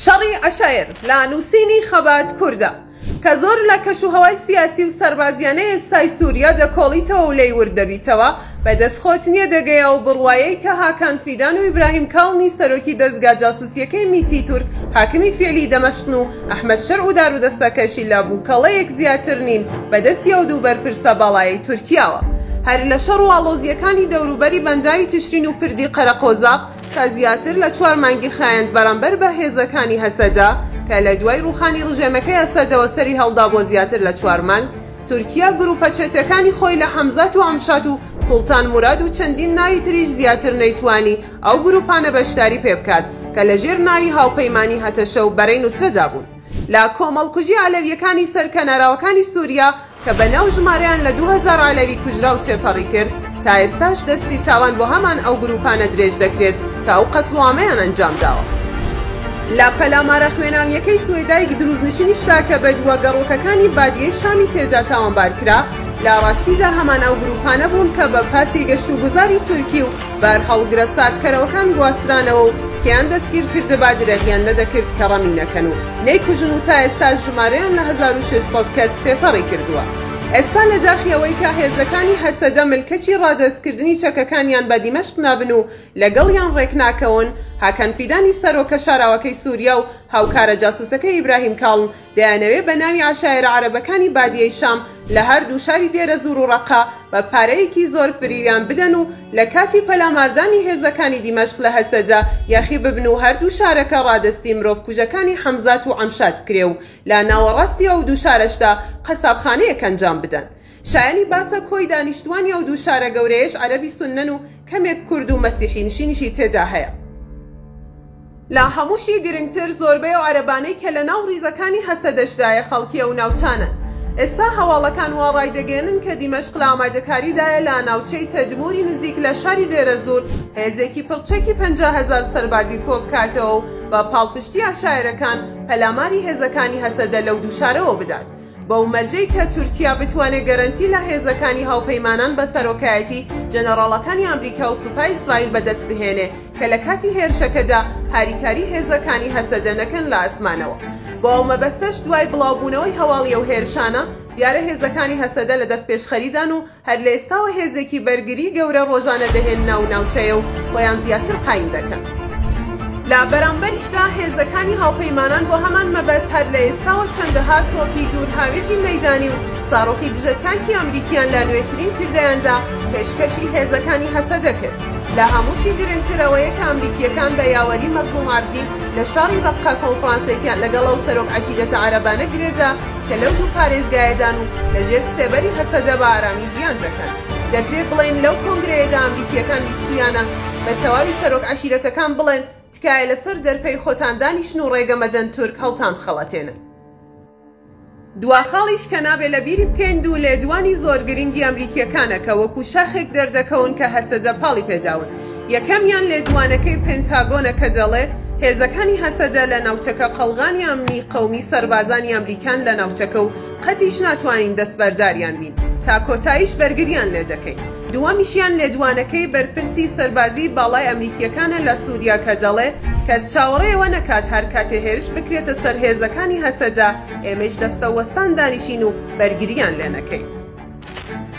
شەڕی عەشایر لە نووسینی خەبات کوردە کە زۆر لە کەش و هەوای سیاسی و سەربازیانەی ئێستای سووریا دەکۆڵیتەوە و لێی ورد دەبیتەوە، بە دەست خۆت نییە دەگەی ئەو بڕوایەی کە هاکان فیدان و ئیبراهیم کاڵنی سەرۆکی دەزگا جاسووسییەکەی میتی تورک حاکمی فیعلی دەمەشقن و ئەحمەد شەرع و دارودەستەکەشی لە بووکەڵەیەک زیاتر نین بە دەستی ئەو دوو بەرپرسە باڵایەی تورکیاوە. هەر لە شەڕ و ئاڵۆزییەکانی دەوروبەری بەنداوی تشرین و پردی قەرەقۆزاق، کە زیاتر لە چوار مانگی خایاند بەرامبەر بە هێزەکانی هەسەدە، کە لە دوای ڕووخانی ڕژێمەکەی ئەسەدەوە سەری هەڵدا بۆ زیاتر لە چوار مانگ، تورکیا گرووپە چەتەکانی خۆی لە حەمزات و ئەمشات و سوڵتان موراد و چەندین ناوی تریش زیاتر نەیتوانی ئەو گرووپانە بەشداری پێ بکات کە لە ژێر ناوی هاوپەیمانی هەتەشە و بەرەی نوسرەدا بوون. لە کۆمەڵکوژی عەلەوییەکانی سەر کەناراوەکانی سووریا، کە بە ناو ژمارەیان لە دوو هەزار عەلەوی کوژراو تێپەڕی کرد، تا ئێستاش دەستی تاوان بۆ هەمان ئەو گرووپانە درێژ دەکرێت کە ئەو قەتڵوعامەیان ئەنجام داوە. لە پەلامارە خوێناوییەکەی سوەیدایک درووزنشینیشدا کە بەدووا گەڕۆکەکانی بادیەی شامی تێدا تاوانبار کرا، لە ڕاستیدا هەمان ئەو گرووپانە بوون کە بە پاسی گەشتوگوزاری تورکی و بارهەڵگرە ساردکەرەوەکان گواسترانەوە و کێیان دەستگیر کردبا درەغیان نەدەکرد کە ڕەمی نەکەن و نەیکوژن و تا ئێستاش ژمارەیان لە هەزار و شەش سەد کەس تێپەڕی کردووە. ئێستا لە داخی ئەوەی کە هێزەکانی هەسەدە ملکەچی ڕادەستکردنی چەکەکانیان بە دیمەشق نابن و لەگەڵیان ڕێکناکەون، هاکان فیدانی سەرۆکە شاراوەکەی سوریا و هاوکارە جاسوسەکەی ئیبراهیم کاڵن دەیانەوێ بە ناوی عەشایەرە عەرەبەکانی بادیەی شام لە هەردوو شاری دێرەزوور و ڕەققە بە پارەیەکی زۆر فریویان بدەن و لە کاتی پەلاماردانی هێزەکانی دیمەشق لە هەسەجە یاخی ببن و هەردوو شارەکە ڕادەستی مرۆڤکوژەکانی حەمزات و عەمشات بکرێ و لە ناوەڕاستی ئەو دوو شارەشدا قەسابخانەیەک ئەنجام بدەن. شایەنی باسە کۆی دانیشتووانی ئەو دوو شارە گەورەیەش عەرەبی سوننەن و کەمێک کورد و مەسیحی نشینیشی تێدا هەیە. لە هەمووشی گرنگتر زۆربەی ئەو عەرەبانەی کە لە ناو ڕیزەکانی هەسەدەشدایە خەڵکی ئەو ناوچانەن. ئێستا هەواڵەکان وا ڕایدەگەیەنن کە دیمەشق لە ئامادەکاریدایە لە ناوچەی تەدموری نزیک لە شاری دێرەزوور هێزێکی پڕ چەکی پەنجا هەزار سەربازی کۆبکاتەوە و بە پاڵپشتی عەشایەرەکان پەلاماری هێزەکانی هەسەدە لەو دوو شارەوە بدات. بەو مەرجەی کە تورکیا بتوانێت گەرەنتی لە هێزەکانی هاوپەیمانان بە سەرۆکایەتی جەنەراڵەکانی ئەمریکا و سوپای ئیسرائیل بەدەست بهێنێ کە لە کاتی هێرشەکەدا هاریکاری هێزەکانی هەسەدە نەکەن لە ئاسمانەوە. بۆ ئەو مەبەستەش دوای بڵاوبوونەوەی هەواڵی ئەو هێرشانە، دیارە هێزەکانی هەسەدە لە دەستپێشخەریدان و هەر لە ئێستاوە هێزێکی بەرگریی گەورە ڕۆژانە دەهێن ناو ناوچەیە و خۆیان زیاتر قایم دەکەن. لە بەرامبەریشدا هێزەکانی هاوپەیمانان بۆ هەمان مەبەست هەر لە ئێستاوە چەندەها تۆپی دوورهاوێژی مەیدانی و ساڕۆخی دژە تانکی ئەمریکییان لە نوێترین کردەیاندا پێشکەشی هێزەکانی هەسەدە کرد. لە هەمووشی گرنگتر ئەوەیە کە ئەمریکییەکان بە یاوەری مەزڵوم عەبدی لە شاڕی ڕەققە کۆنفڕانسێکیان لەگەڵ ئەو سەرۆک عەشیرەتە عەرەبانە گرێدا کە لەو دوو پارێزگایەدان و لە ژێر سێبەری هەسەدە بە ئارامی ژیان دەکەن. دەکرێ بڵێین لەو کۆنگرەیەدا ئەمریکییەکان ویستوویانە بە تەواوی سەرۆک عەشیرەتەکان بڵێن تکایە لە سەر دەرپەی خۆتان دانیشن و ڕێگە مەدەن تورک هەڵتانبخەڵەتێنن. دوا خاڵیش کە نابێ لە بیری بکەین دوو لێدوانی زۆر گرینگی ئەمریکییەکانە کە وەکوو شاخێک دەردەکەون کە هەسەدە پاڵی پێ داون. یەکەمیان لێدوانەکەی پێنتاگۆنە کە دەڵێ هێزەکانی هەسەدە لە ناوچەکە قەڵغانی ئەمنی قەومی سەربازانی ئەمریکان لە ناوچەکە و قەتیش ناتوانین دەستبەرداریان بین تا کۆتاییش بەرگریان لێ دەکەین. دووەمیشیان لێدوانەکەی بەرپرسی سەربازیی باڵای ئەمریکییەکانە لە سووریا کە دەڵێ کەس چاوەڕێ ئەوە نەکات هەر کاتێ هێرش بکرێتە سەر هێزەکانی هەسەدە ئێمەیش دەستەوەستان دانیشین و بەرگرییان لێ نەکەین.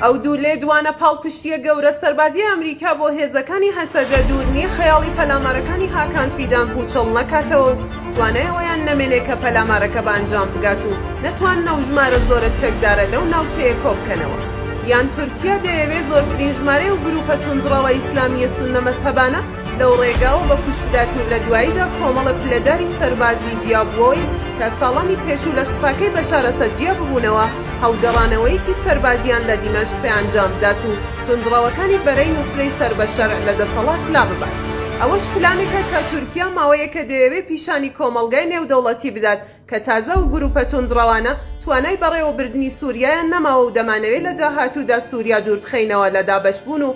ئەو دوو لێدوانە پاڵپشتییە گەورە سەربازیی ئەمریکا بۆ هێزەکانی هەسەدە، دوور نییە خەیاڵی پەلامارەکانی هاکان فیدان پووچەڵ نەکاتەوە و توانای ئەوەیان نەمێنێ کە پەلامارەکە بە ئەنجام بگات و نەتوانن ئەو ژمارە زۆرە چەکدارە لەو ناوچەیە کۆ بکەنەوە. یان تورکیە دەیەوێ زۆرترین ژمارەی ئەو گرووپە توندڕەوە ئیسلامییە سوننە مەزهەبانە، لەو ڕێگاوە بە کوشت بدات و لە دواییدا کۆمەڵە پلەداری سەربازی جیا بووەوەی کە ساڵانی پێشوو لە سوپاکەی بەشار ئەسەد جیا ببوونەوە، هەڵگەڕانەوەیەکی سەربازییان لە دیمەشق پێ ئەنجام بدات و توندڕەوەکانی بەرەی نوسرەی سەر بە شەرع لە دەسەڵات لا ببات. ئەوەش پلانێکە کە تورکیا ماوەیەکە دەیەوێ پیشانی کۆمەڵگای نێودەوڵەتی بدات کە تازە ئەو گرووپە توندڕەوانە توانای بەڕێوەبردنی سووریایان نەماوە و دەمانەوێ لە داهاتوودا سووریا دوور بخەینەوە لە دابەشبوون و